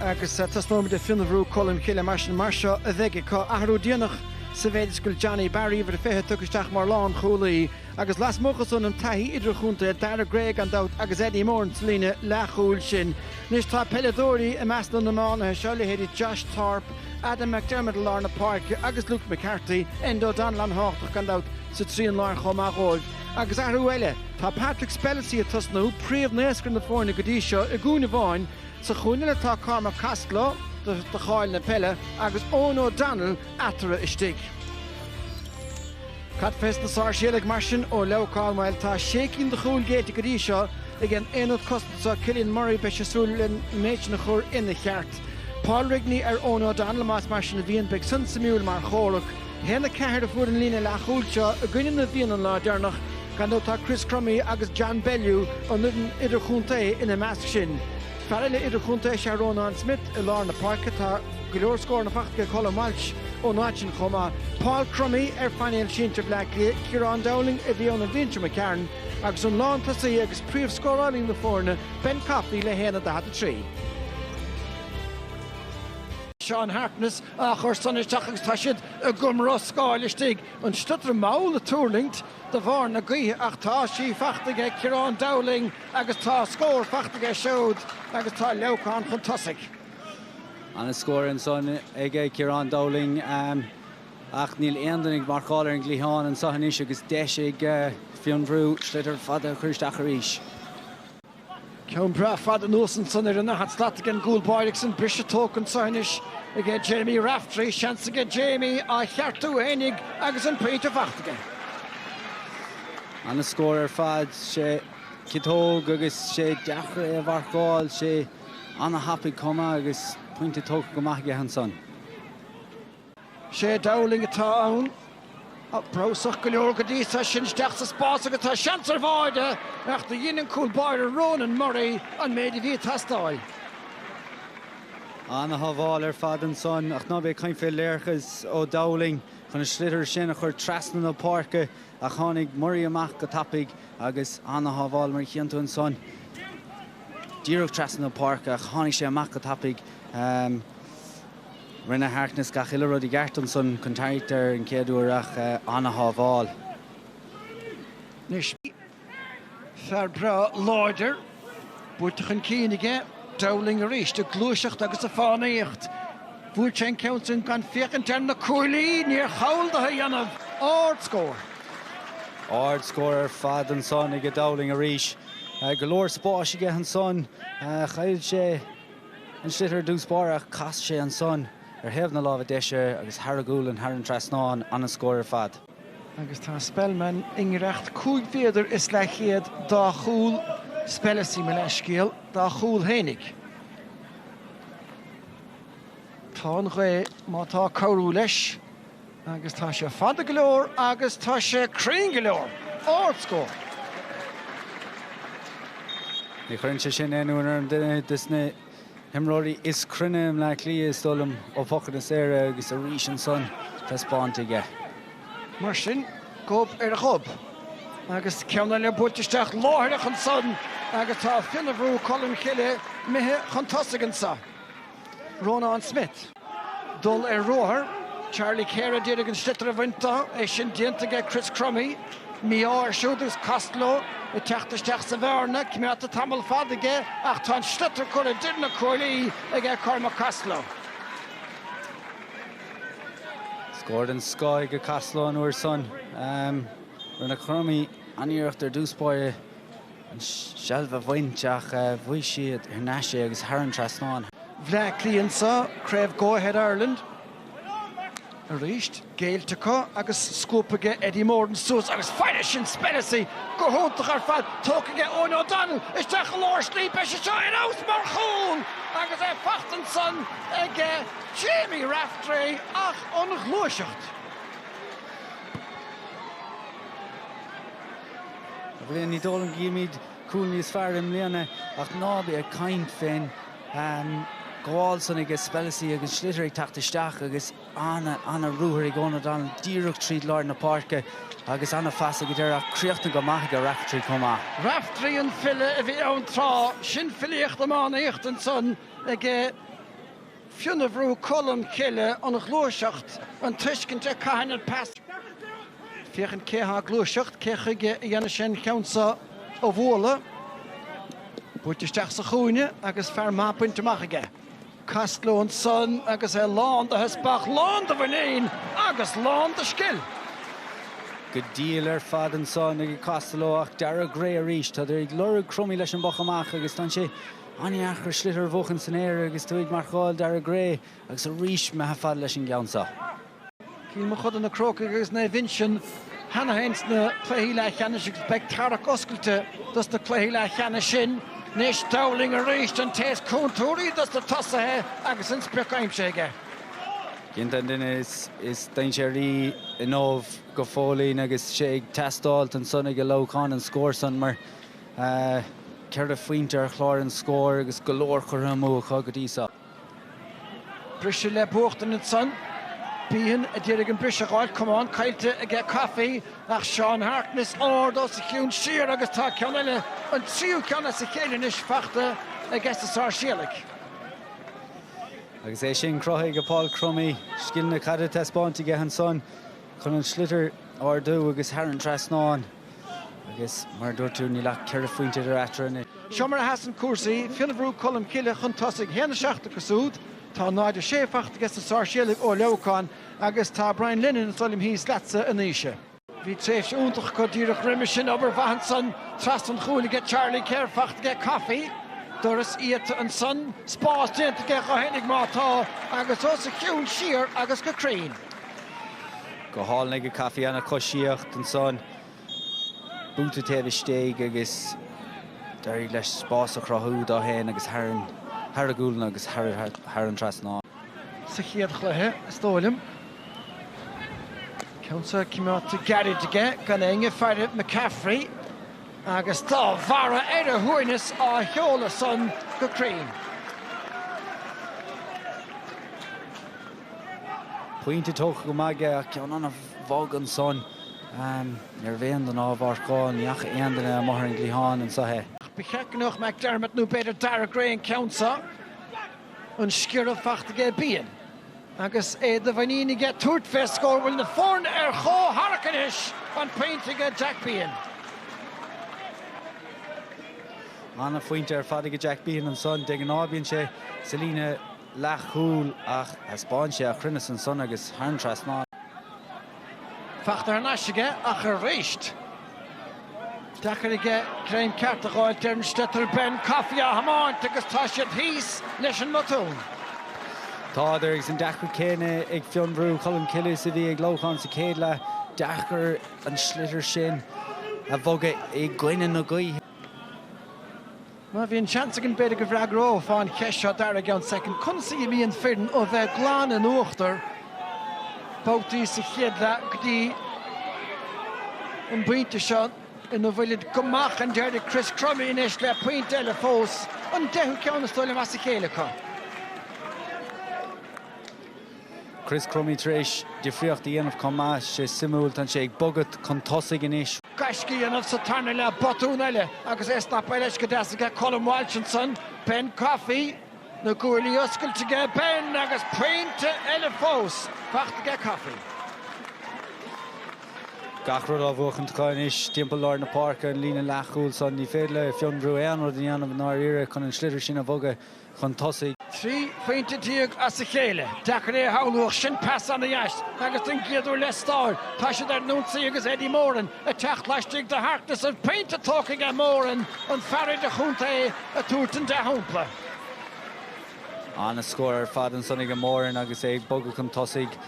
agus tosnóimid le Fionnbhrú Colm Cille mar sin. Mar seo a bheidh acu, athrú déanach sa mhéid is go bhfuil Johnny Barry, uimhir a 20, tugtha isteach mar lánchúlaí, agus lasmuigh acu tá an taithí idirchontae, Dara Gray gan dabht, agus Eddie Moran sa líne leathchúil sin. Anois tá peileadóirí i measc na n-iománaithe seo, leithéidí Josh Thorpe, Adam McDermott i lár na páirce agus Luke McCarthy, Andrew Dunphy an-tábhachtach gan dabht sa trian láir chomh maith dhóibh. Agus athrú eile, tá Patrick Spellacy ag tosnú, príomhnaoscaire na foirne go dtí seo, i gcúinne amháin, Sa chúinne eile tá Cormac Costello do cháil na peile agus Eoin O'Donnell eatarthu istigh. Cad fés na Sáirséalaigh mar sin ó Leamhcán bhuel tá sé cinn de chúil géillte go dtí seo ag an aonad cosanta so Cillian Murray beidh sé ag súil leis an méid sin a chur ina cheart. Paul Rigney ar Eoin O'Donnell más mar sin a bhíonn beidh san suimiúil mar chomhrac. A haon a 4 a fuair an líne leathchúil seo i gcoinne na bhFiann an lá deireanach, gan dabht tá Chris Crummey agus John Bellew ón fhoireann idirchontae ina measc sin. Fear eile idirchontae is ea Rónán Smith i lár na páirce. Tá go leor scóranna fachta aige Colm Walsh ón áit sin chomh maith. Paul Crummey ar phainéal sinsir Bhleá Cliath, Kieran Dowling a bhí ann in imeacht Mhic Chearáin agus an lántosaí agus príomhscórálaí na foirne Ben Coffey le 1-23. Seán Harkness á chur san isteach agus tá siad i gcumroscáil istigh. An sliotar mall ag tuirlingt de bharr na gaoithe ach tá sí fachta aige Kieran Dowling agus tá scór fachta aige siúd agus tá Leamhcán chun tosaigh. Ana scór ansan aige Kieran Dowling ach níl aon duine ag marcáil ar an gcliathán anso anois agus deis ag Fionnbhrú sliotar fada a chur isteach arís. Ceann breá fada anuas ansan ar an daichead slat aige an gcúl báire agus an briseadh tógtha anso anois aige Diarmuid Breathnach. Seans aige Diarmuid é a cheartú féinig agus an pointe fachta aige. An-scór ar fad. Tá sé ciotóg agus tá sé deacair é a mharcáil. Sé an-thapaidh chomh maith agus pointe tógtha go maith aige ansan. Sé Dowling atá ann. Breabhsach go leor go dtí seo. Sin isteach sa spás agus tá seans ar bháide ach dhein an cúl báire Ronan Murray an méid a bhí ag teastáil. An-shábháil ar fad ansan ach ná bí ag caint faoi léargas ó Dowling chun an sliotar sin a chur trasna na páirce ach tháinig Murray amach go tapaidh agus an-shábháil mar a chíonn tú ansan. Díreach trasna na páirce ach tháinig sé amach go tapaidh. Rinne Harkness gach uile rud i gceart ansan, contact ar an chéad uair ach an-shábháil. Anois, fear breá láidir, buaite chun cinn aige, Dowling arís, ag gluaiseacht agus ag fánaíocht. Bhuail sé an ceann sin gan féachaint ar na cuaillí, níor chall dó é a dhéanamh, ard scór. Ard scór ar fad ansan aige Dowling arís. Go leor spáis aige ansan, chaill sé. an sliotar i dtús báire ach chas sé ansan ar thaobh na láimhe deise agus thar a ghualainn thar an trasnán. Ana-scór ar fad. Agus tá Spellman i ngiorracht cúig mhéadar is leathchéad dá chúl Spellacy, mo leithscéal, dá chúl fhéinig. Tá an ghaoth, má tá cabhrú leis. Agus tá sé fada go leor agus tá sé cruinn go leor. Ard scór. Ní chuireann sé sin aon ionadh orm. Duine des na himreoirí is cruinne i mBleá Cliath, is dóigh liom, ó phocanna saora agus arís ansan taispeánta aige. Mar sin, gob ar ghob. Agus ceann eile buailte isteach láithreach ansan agus tá Fionnabhrú Colmcille imithe chun tosaigh anseo. Rónán Smith. Dul ar ruathar, Charlie Keher d'iarraidh an sliotar a bhaint de, é sin déanta aige Chris Crummey. Mí-ádh air siúd agus Costello ag teacht isteach sa bhearna, coimeádta tamall fada aige ach tá an sliotar curtha idir na cuaillí aige Cormac Costello. Scór den scoth aige Costello an uair san. Rinne Crummey an-iarracht ar dtús báire. an seilbh a bhaint ach bhuaigh siad thar n-ais é agus thar an trasnán. Bhleá Cliath anseo, craobh Go Ahead Ireland arís géillte acu agus scúp aige Eddie Moran suas agus fairis sin Spellacy go hiontach ar fad tógtha aige Eoghan O'Donnell isteach i lár slí beidh sé seo ar fheabhas mar chúl agus é faighte ansan ag Jamie Raftery ach an ghluaiseacht. Bhriain ní dóigh liom go gcífimid cúl níos fearr i mbliana ach ná bí ag caint fén ghabháil san aige Spellacy agus sliotar ag teacht isteach agus ana ana ruathar ag Eoghan O'Donnell díreach trí lár na páirce agus ana phas ag an deireadh ach críochnaithe go maith aige Raftery chomh maith. Raftery an file a bhí ann tráth, sin filíocht iománaíochta ansan aige. Fionnabhrú Cholm Cille an ghluaiseacht, an tuiscint cathain an pas, féachaint cé atá ag gluaiseacht, cé chuige a dhéanann sé an ceann seo a bhualadh, buailte isteach sa chúinne agus fear maith bainte amach aige. Costello ansan agus é lán de theaspach, lán de mhuinín agus lán de scil. Go diail ar fad ansan ag Costello ach Daire Gray arís. Tádar ag lorg Crummey leis an bpoc amach agus tá sé Ana-dheacair sliotar a bhuachan san aer agus tú ag marcáil Daire Gray agus arís imithe fada leis an gceann seo. Cill Mochuda Na Crócaigh agus Naomh Uinsionn cheana féin sna cluichí leathcheannais agus beidh tarrac oscailte dos na cluichí leathcheannais sin. Anois Dowling arís, an té is contúirtí des na tosaithe agus an sprioc aimsithe aige. Cinnte an duine is dainséaraí inniu go fóillín agus sé ag teastáilt ansan aige Leamhcán an scór san mar, Ceithre phointe ar chlár an scóir agus go leor curtha amú acu go dtí seo. Briseadh le buachtaint ansan. Behan a d'éirigh an briseadh a fháil. Camán caillte aige Coffey ach Seán Harkness ard os a chionn siar agus tá ceann eile, an tríú ceann as a chéile anois, faighte aige sna Sáirséalaigh. Agus é sin cruthaithe ag Paul Crummey. Scileanna caide taispeánta aige ansan. chun an sliotar a ardú agus thar an trasnán agus mar a dúirt tú níl ach ceithre phointe idir eatarthu anois. Seo mar a sheasann cúrsaí, Fionnbhrú Colmcille chun tosaigh, 1 7 acu siúd, tá 0 6 faighte aige sna Sáirséalaigh ó Leamhcán agus tá Brian Lennon is dóigh liom thíos leatsa a Naoise. Bhí tréimhse iontach acu díreach roimhe sin, obair mhaith ansan trasna an chúil aige Charlie Keher faighte aige, Coffey, doras iata ansan, spás déanta aige dhó fhéinig má tá agus os a chionn siar agus go cruinn. Go hálainn aige Coffey ana choisíocht ansan. Buaite taobh istigh agus d'éirigh leis spás a chruthú dó fhéin agus thar a ghualainn agus thar an trasnán. Sa chéad chluiche is dóigh liom. Ceann so coimeádta gairid aige gan éinne ag faire McCaffrey agus dá bharr ar a shuaimhneas á sheoladh san go cruinn. Pointe tógtha go maith aige ach ceann ana bhog ansan. Ní raibh aon duine á mharcáil, ní fhaca aon duine amuigh ar an gcliathán ansan é. Ach ba cheart go mbeadh McDermott nó b'fhéidir Daire Gray an ceann seo, an sciorradh faighte aige Behan. Agus é de mhuinín aige tabhairt fé scór bhfuil na foirne ar chomhtharrac anois an pointe aige Jack Behan. Ana phointe ar fad aige Jack Behan ansan. De ghnáth bíonn sé sa líne. leathchúl ach thaispeáin sé a chruinneas ansan agus thar an trasnán. Fachta thar n-ais aige ach arís deacair aige greim ceart a dh'fháilt ar an sliotar. Ben Coffey á thiomáint agus tá siad thíos leis an mbotún. Tádar agus an deacracht chéanna ag Fionnbhrú Cholmcille is a bhí ag Leamhcán sa chéad leath. Deacair an sliotar sin a bhogadh i gcoinne na gaoithe. Má bhíonn seans againn b'fhéidir go bhfreagrófá an cheist seo, Dara i gceann soicind, conas a imíonn foireann ó bheith glan in uachtar babhtaí sa chéad leath go dtí an bpointe seo ina bhfuilid go maith chun deiridh, Chris Crummey anois le pointe eile fós, an deichiú ceann is dóigh liom as a chéile acu. Chris Crummey tar éis difríocht a dhéanamh chomh maith, sé suimiúil, tá sé ag bogadh chun tosaigh anois. Gaisce á dhéanamh sa tarna leath botún eile agus é ag snapáil leis go deas aige Colm Walsh ansan, Ben Coffey, na guaillí oscailte aige, Ben agus pointe eile fós fachta aige Coffey. Gach rud á bhuachan acu anois timpeall lár na páirce, an líne leathchúil san, ní féidir le Fionnbhrú aon rud a dhéanamh i ndáiríre chun an sliotar sin a bhogadh. chun tosaigh. 13 phointe as a chéile. Deacair é a shamhlú ach sin pas ana dheas agus don gcéad uair le stáir tá siad ar an ionsaí agus Eddie Moran ag teacht laistigh do Harkness an pointe tógtha aige Moran an fear idir chontae ag tabhairt an dea-shampla. Ana scór ar fad ansan aige Moran agus é ag bogadh chun tosaigh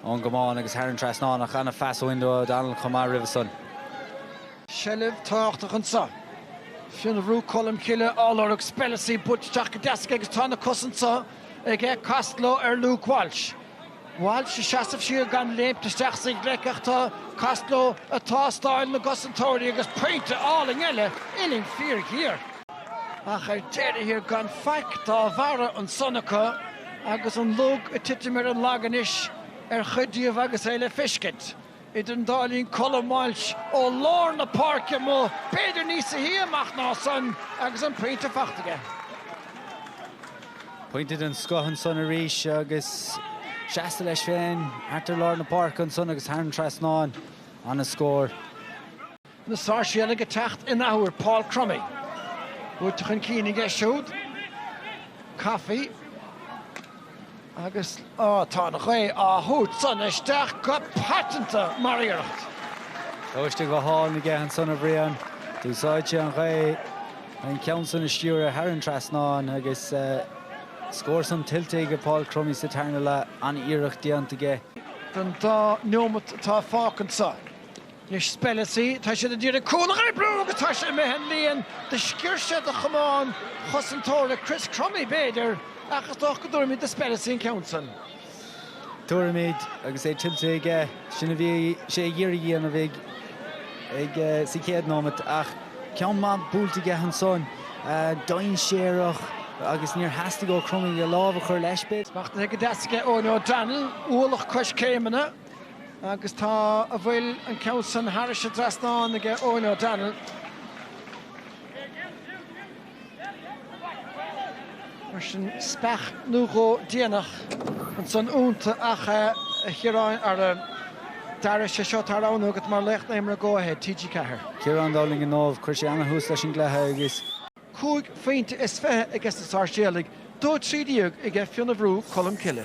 ón gcamán agus thar an trasnán ach ana phas ó Enda O'Donnell chomh maith roimhe san. seilbh tábhachtach anseo. Fionnbhrú Colm Cille á lorg, Spellacy buailte isteach go deas aige agus tá na cosa anseo aige Costello ar Luke Walsh. Walsh ag seasamh siar gan léimt isteach is ag leic ach tá Costello ag tástáil na gcosantóirí agus pointe álainn eile, uillinn fíor ghéar. Ach ar deireadh thiar gan faic dá bharra ansan acu agus an lug ag titim ar an lag anois ar chuid díobh agus é le feiscint. Idir an dá linn Colm Walsh ó lár na páirce amuigh, b'fhéidir níosa shia amach ná san agus an pointe fachta aige. Pointe den scoth ansan arís agus seasta leis féin thart ar lár na páirce ansan agus thar an trasnán. Ana scór. na Sáirséalaigh ag teacht in athuair, Paul Crummy buailte chun cinn aige siúd, Coffey agus á tá an ghaoth á thabhairt san isteach go paiteanta mar iarracht. Tomhaiste go hálainn aige ansan a Bhriain, d'úsáid sé an ghaoth chun ceann san a stiúradh thar an trasnán agus scór san tuillte aige Paul Crummy sa tarna leath, an-iarracht déanta aige. den dá neomat atá fágtha anseo. Anois Spellacy, tá siad ag iarraidh cúl a oibriú agus tá sé imithe an líon de sciúirse de chamán cosantóra Chris Crummey, b'fhéidir, ach is dócha go dtabharfaimid do Spellacy an ceann san. Tabharfaimid agus é tuillte aige. Sin a bhí sé ag iarraidh a dhéanamh ag sa chéad nóimeat ach ceann maith buailte aige ansan, dainséarach agus níor theastaigh ó Crummey a lámh a chur leis, b'fhéidir. Smachtaithe go deas aige Eoghan O'Donnell, ualach coiscéimeanna. Agus tá, an bhfuil an ceann san thairis i dtrasnán aige Eoin O'Donnell. Mar sin speach nó dhó déanach ansan ionnta ach a Chiaráin ar an dara cé seo atá ann agat mar laoch na himeartha Go Ahead TG4. Ciarán Dowling i ndomhnach, chuir sé an-thús leis an gcluiche agus. cúig phointe is fiche aiges na Sáirséalaigh, dó trí déag aige Fionnbhrú Colmcille.